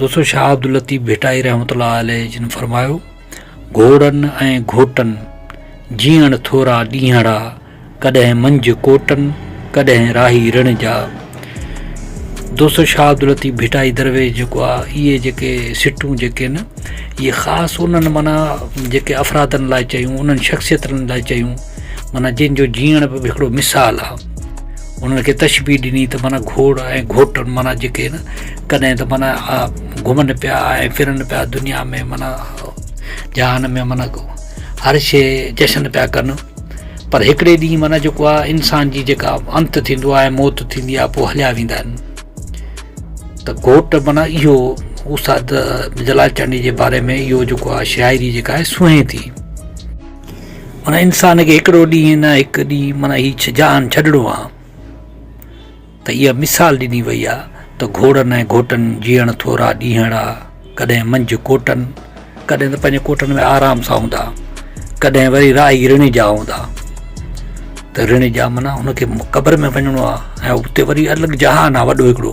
دوستو شاهه عبداللطيف ڀٽائي رحمت الله عليه جن فرمايو گهوڙن ۽ گهوٽن جيئڻ ٿورا ڏينهڙا ڪڏهن منجهه ڪوٽن ڪڏهن راهي رڻ جا دوستو شاهه عبداللطيف ڀٽائي درويش جيڪو آهي اهي جيڪي سٽون جيڪي آهن اهي خاص انهن معنيٰ جيڪي افرادن لاء چيون انهن شخصيتن لاء چيون معنيٰ جن جو جيئڻ به هڪڙو مثال آ. انهن کي تشبيهه ڏني ته معنيٰ گهوڙ ۽ گهوٽن معنيٰ جيڪي هن ڪڏهن ته معنيٰ گهمن پيا ۽ ڦرن پيا دنيا ۾ معنيٰ جهان ۾ معنيٰ هر شيء جشن پيا ڪن پر هڪڙي ڏينهن معنيٰ جيڪو آ انسان جي جيڪا انت ٿيندو آ ۽ موت ٿيندي آ پوء هليا ويندا آهن ته گهوٽ معنيٰ اهو استاد جلال چانڊيي جي باري ۾ اهو جيڪو آ شاعري جيڪا آهي سونهين ٿي. معنيٰ انسان کي هڪڙو ڏينهن نه هڪ ڏينهن معنيٰ هي جهان ڇڏڻو آ ته اها مثال ڏني وئي آ ته گهوڙن ۽ گهوٽن جيئڻ ٿورا ڏينهڙا ڪڏهن منجهه ڪوٽن ڪڏهن ته پنهنجي ڪوٽن ۾ آرام سان هوندا ڪڏهن وري راهي رڻ جا هوندا ته رڻ جا معنيٰ هن کي قبر ۾ وڃڻو آ ۽ اتي وري الڳ جهان آ وڏو هڪڙو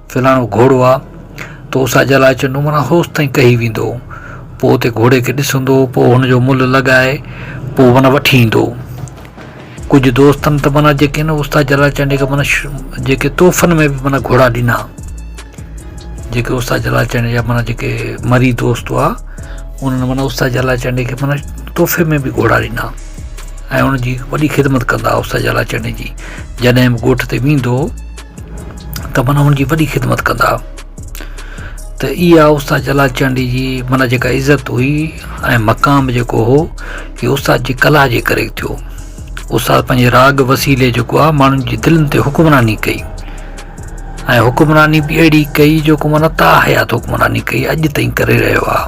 فلاڻو گهوڙو آ، تو سا جلاچ نمرا هوس تائين ڪهي ويندو، پوء اتي گهوڙي کي ڏسندو، پوء هن جو ملهه لڳائي، پوء معنيٰ وٺي ايندو. ڪجهه دوستن ته معنيٰ جيڪي هن استاد جلال چانڊيي کي معنيٰ جيڪي تحفن ۾ به معنيٰ گهوڙا ڏنا. جيڪي استاد جلال چانڊيي جا معنيٰ جيڪي مريد دوست هئا، انهن معنيٰ استاد جلال چانڊيي کي معنيٰ تحفي ۾ به گهوڙا ڏنا ۽ ان جي وڏي خدمت ڪندا هئا استاد جلال چانڊيي جي. جڏهن به ڳوٺ تي ويندو هو. ته معنيٰ ان جي وڏي خدمت ڪندا ته اها استاد جلال چانڊيي جي معنيٰ جيڪا عزت هئي ۽ مقام جيڪو هو اهو استاد جي ڪلا جي ڪري ٿيو استاد پنهنجي راڳ وسيلي جيڪو آهي ماڻهن جي دلن تي حڪمراني ڪئي ۽ حڪمراني به اهڙي ڪئي جيڪو معنيٰ تا حيات حڪمراني ڪئي اڄ تائين ڪري رهيو آهي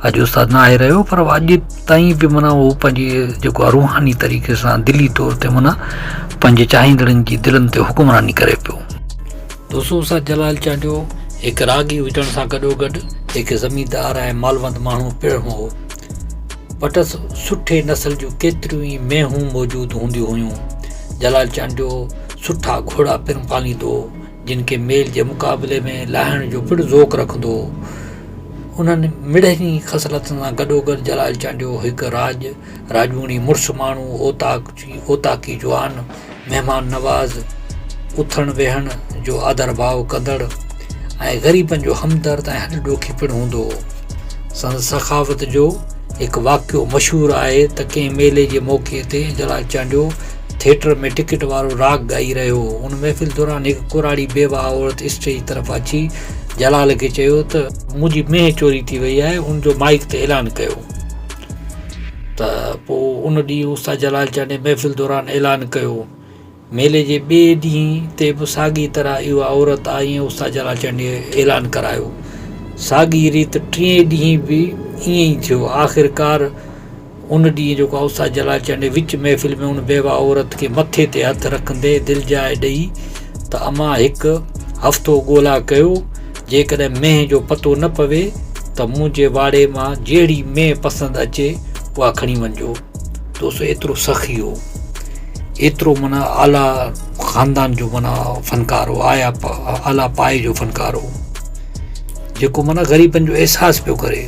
اڄ استاد ناهي رهيو پر اڄ تائين به منا هو پنهنجي جيڪو روحاني طريقي سان دلي طور تي منا پنهنجي چاهيندڙن جي دلن تي حڪمراني ڪري پيو دوستو استاد جلال چانڊيو هڪ راڳي هجڻ سان گڏو گڏ هڪ زميندار ۽ مالوند ماڻهو پڻ هو وٽس سٺي نسل جون ڪيتريون ئي مينهون موجود هونديون هيون جلال چانڊيو سٺا گهوڙا پڻ پاليندو هو جن کي ميل جي مقابلي ۾ لاهڻ جو پڻ ذوق رکندو هو. انهن مڙهين ئي خصلتن سان گڏوگڏ جلال چانڊيو هڪ راڄ راڄوڻي، مڙس ماڻهو، اوطاقچي، اوطاقي جوان، مهمان نواز، اٿڻ ويهڻ جو آڌرڀاء ڪندڙ ۽ غريبن جو همدرد ۽ هڏ ڏوکي پڻ هوندو هو. سندس سخاوت جو هڪ واقعو مشهور آهي ته ڪنهن ميلي جي موقعي تي جلال چانڊيو، ٿيٽر ۾ ٽڪيٽ وارو راڳ ڳائي رهيو هو. ان محفل دوران هڪ ڪراڙي بيواهه عورت اسٽيج طرف اچي جلال کي چيو ته. منهنجي مينهن چوري ٿي وئي آهي. ان جو مائيڪ تي اعلان ڪيو ته پوء ان ڏينهن استاد جلال چانڊيي محفل دوران اعلان ڪيو. ميلي جي ٻئي ڏينهن تي به ساڳي طرح اها عورت آئي ۽ استاد جلال چانڊيي اعلان ڪرايو. ساڳي ريت ٽئين ڏينهن به ائين ئي ٿيو. آخرڪار ان ڏينهن جيڪو اوستاد جلال چانڊيو وچ محفل ۾ ان بيواهه عورت کي مٿي تي هٿ رکندي دلجاء ڏئي ته امان هڪ هفتو ڳولا ڪيو جيڪڏهن مينهن جو پتو نه پوي ته منهنجي واڙي مان جهڙي مينهن پسند اچي اها کڻي وڃجو دوستو ايترو سخي هو ايترو منا اعليٰ خاندان جو منا فنڪار هو آيا اعليٰ پائي جو فنڪار هو جيڪو منا غريبن جو احساس پيو ڪري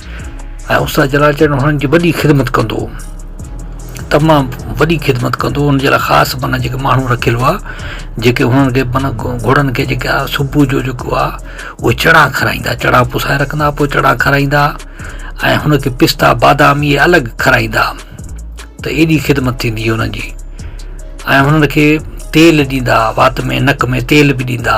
۽ استاد جلال چيو هنن جي وڏي خدمت ڪندو تمام وڏي خدمت ڪندو ان جي لاء خاص معنيٰ جيڪي ماڻهو رکيل هئا جيڪي هنن کي معنيٰ گهوڙن کي جيڪي آ صبح جو جيڪو آ اهي چڻا کارائيندا چڻا پسائي رکندا پوء چڻا کارائيندا ۽ هن کي پستا بادام اهي الڳ کارائيندا ته ايڏي خدمت ٿيندي هنن جي ۽ هنن کي تيل ڏيندا وات ۾ نڪ ۾ تيل به ڏيندا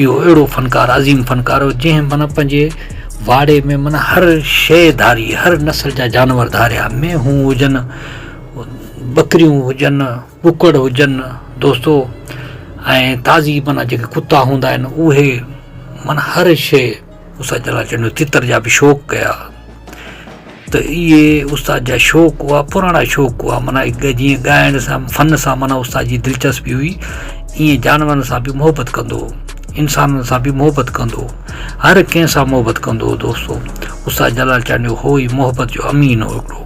اهو اهڙو فنڪار عظيم فنڪار هو جنهن معنيٰ پنهنجي واڙي ۾ معنيٰ هر شيء ڌاري هر نسل جا جانور ڌاريا مينهون هجن ٻڪريون هجن ڪڪڙ هجن دوستو ۽ تازي معنيٰ جيڪي ڪتا هوندا آهن اهي معنيٰ هر شيء استاد جلال چنڙيو تتر جا به شوق ڪيا ته اهي استاد جا شوق هئا پراڻا شوق هئا معنيٰ هڪ جيئن ڳائڻ سان فن سان معنيٰ استاد جي دلچسپي هئي ائين جانورن سان به محبت ڪندو هو انسانن سان به محبت ڪندو هو هر ڪنهن سان محبت ڪندو هو دوستو استاد جلال چانڊيو هو ئي محبت جو امين هو هڪڙو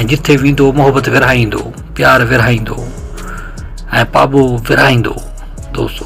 ۽ جتي ويندو هو محبت ورهائيندو هو پيار ورهائيندو هو ۽ پاٻو ورهائيندو هو دوستو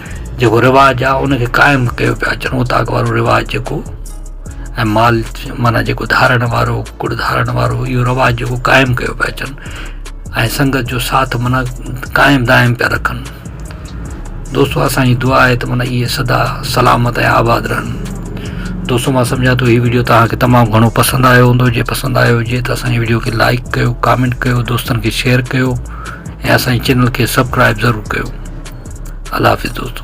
جيڪو رواج آ ان کي قائم ڪيو پيا اچن هو طاق وارو رواج جيڪو ۽ مال معنيٰ جيڪو ڌارڻ وارو ڪڙ ڌارڻ وارو اهو رواج جيڪو قائم ڪيو پيا اچن ۽ سنگت جو ساٿ معنيٰ قائم دائم پيا رکن دوستو اسانجي دعا آهي ته معنيٰ اهي سدا سلامت ۽ آباد رهن دوستو مان سمجھا ٿو هي ويڊيو توهان کي تمام گھڻو پسند آيو هوندو جي پسند آيو هجي ته اسانجي ويڊيو کي لائڪ ڪيو ڪامينٽ ڪيو دوستن کي شيئر ڪيو ۽ اسانجي چينل کي سبسڪرائب ضرور ڪيو الله حافظ دوستو